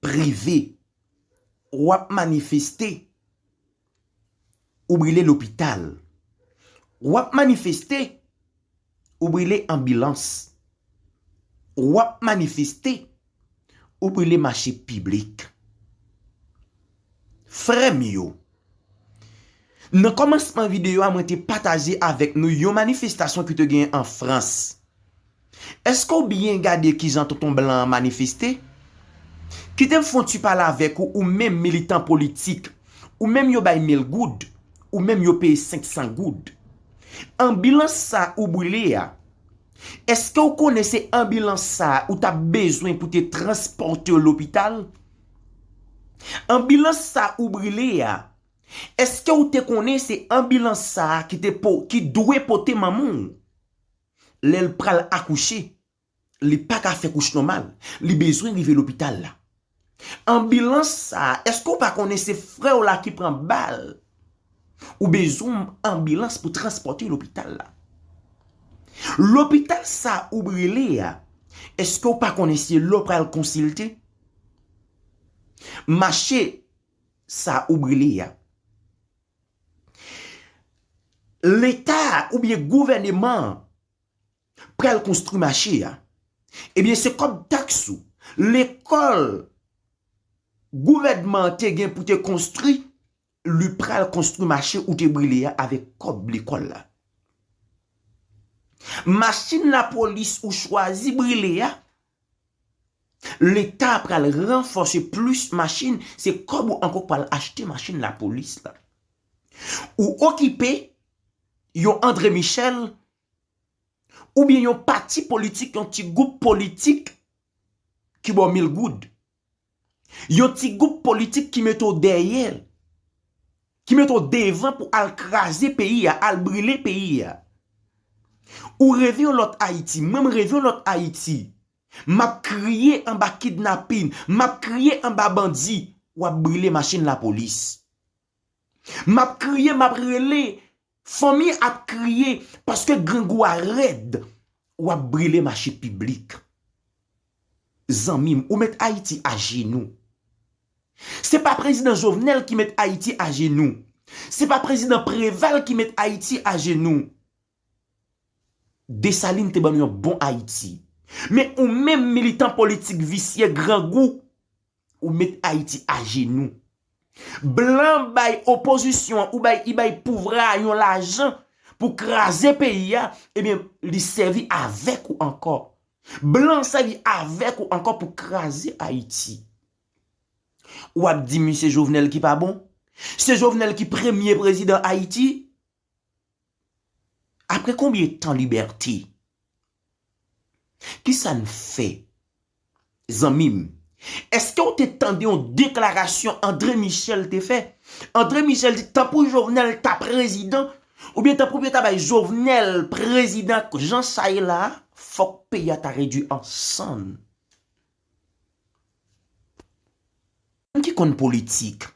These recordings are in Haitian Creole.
prive ou ap manifeste ou brile lopital ou ap manifeste ou brile anbilans ou ap manifeste ou brile mache piblik. Frèm yo. Nan kòmansman videyo a mwen te pataje avèk nou yon manifestasyon ki te genyen an Frans. Eske w byen gade kijan tonton blan an manifeste? Kite m fon ti pale avèk ou ou menm militan politik, ou menm yo bay mil goud, ou menm yo peye 500 goud. Anbilans sa ou brile a, eske w konnen se anbilans sa ou tap bezwen pou te transpòte w lopital? Anbilans sa ou brile a, eske ou te konnen se anbilans sa ki te po, ki dwe pote manman ou lè l pral akouche, li pa ka fè kouch nòmal, li bezwen rive lopital la. Anbilans sa, eske ou pa konnen se frè w la ki pran bal. Ou bezwen yon anbilans pou transpòte lopital la. Lopital sa ou brele a, eske ou pa konnen se la ou pral konsilte? Mache sa ou brele a. Leta oubyen gouvèneman an pral konstri mache a. Ebyen se kòb taks ou. Lekòl gouvènman te gen pou te konstri. Li pral konstwi mache ou te brile ya avek kob lekol la. Machin la polis ou chwazi brile ya leta pral ranfose plis machin se kob ou anko pral achte machin la polis la. Ou okipe yon Andre Michel ou byen yon pati politik yon ti goup politik ki baw mil goud. Yon ti gwoup politik ki mete w dèyè, ki mete w devan pou al kraze peyi a, al brile peyi a. Ou reve yon lòt Ayiti, mwen m reve yon lòt Ayiti. M ap kriye anba kidnapin, m ap kriye anba bandi, w ap brile machin lapolis. Map kriye map rele Fanmi ap kriye paske grangou a rèd Wap brile mache piblik Zanmim ou met ayiti ajenou Se pa prezidan jovenel ki met ayiti ajenou Se pa prezidan preval ki met ayiti ajenou Desalin te bannou yon bon ayiti Men ou menm militan politik visye grangou Ou met Ayiti ajenou. Blan bay opozisyon an ou bay i bay pouvra a yon lajan pou kraze peyi a, ebyen li sèvi avèk ou ankò. Blan sèvi avèk ou ankò pou kraze Ayiti. Ou ap di m se Jovenel ki pa bon? Se Jovenel ki premye prezidan Ayiti? Apre konbyen tan libète? Kisa n fè? Zanmi m, èske w te tande yon deklarasyon André Michel te fè? André Michel di tan pou Jovenel ta prezidan, oubyen tan pou yo ta bay Jovenel prezidan jan sa ye la a, fòk peyi a ta redui an sann. Moun ki konn politik.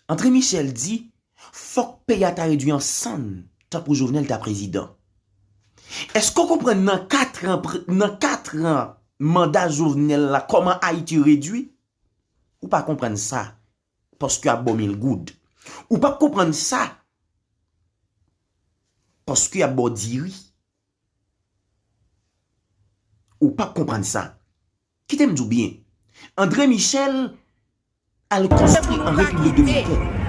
Andre Michel di fòk peyi a ta redwi an sann tankou Jovenel ta prezidan. Eske w konprann nan 4 an nan 4 an manda Jovenel la kòman Ayiti redwi? Ou pa konprann sa paske ap ba w mil goud. Ou pap konprann sa paske ap ba w diri. Ou pap konprann sa. Kite m di w byen. André Michel al konstwi an Repiblik Dominikèn.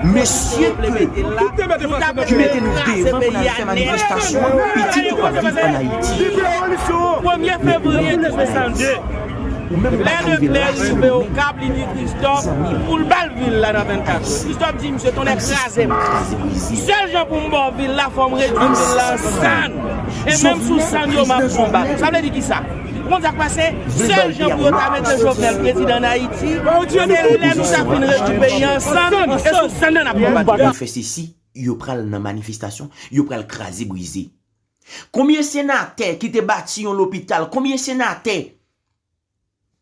Mesye ke ki mete nou devan pou n al fè manifestasyon, pitit yo pap viv an Ayiti. Men pou revolisyon an. Lè Leclè rive Okap li di Kristòf pou l ba l vil la nan 24 jou. Kristòf di misye tonnè kraze m. Sèl jan pou m ba w vil la fò m redui vil la an sann. E menm sou sann yo m ap konbat ou. Sa vle di kisa? Ou konn sa k pase? Sèl jan pou yo ta mete Jovenel prezidan ann Ayiti, se lè nou ta fin redui peyi a an sann e sou sann nan n ap konbat li. Yo fè sesi, yo pral nan manifestasyon, yo pral kraze brize. Konbyen senatè ki te bati yon lopital, konbyen senatè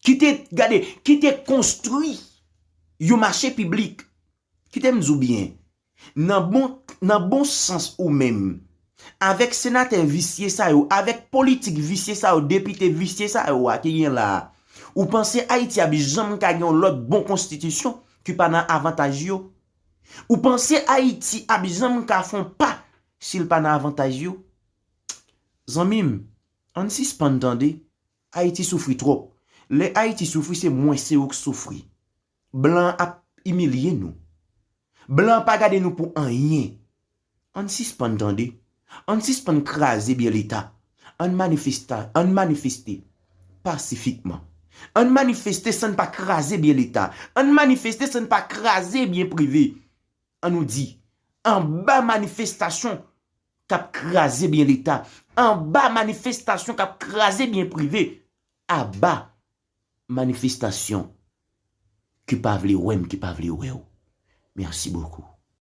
ki te, gade, ki te konstwi yon mache piblik? Kite m di w byen, nan bon, nan bon sans ou menm, avèk senatè visye sa yo, avèk politik visye sa yo, depite visye sa yo a ki gen la a, ou panse Ayiti ap janm ka gen yon lòt bon konstitisyon ki pa nan avantaj yo? Ou panse Ayiti ap janm ka fon pa si l pa nan avantaj yo? Zanmi m, an n sispann tande, Ayiti soufri twòp. Lè Ayiti soufri se mwen se ou k soufri. Blan an ap imilye nou. Blan an pa gade nou pou anyen. Ann sispann tande, ann sispann kraze byen leta, ann manifesta, ann manifeste pasifikman. Ann manifeste san n pa kraze byen leta, ann manifeste san n pa kraze byen prive. An nou di, anba manifestasyon k ap kraze byen leta, anba manifestasyon k ap kraze byen prive, aba manifestasyon ki pa vle wè m, ki pa vle wè w. Mèsi bokou.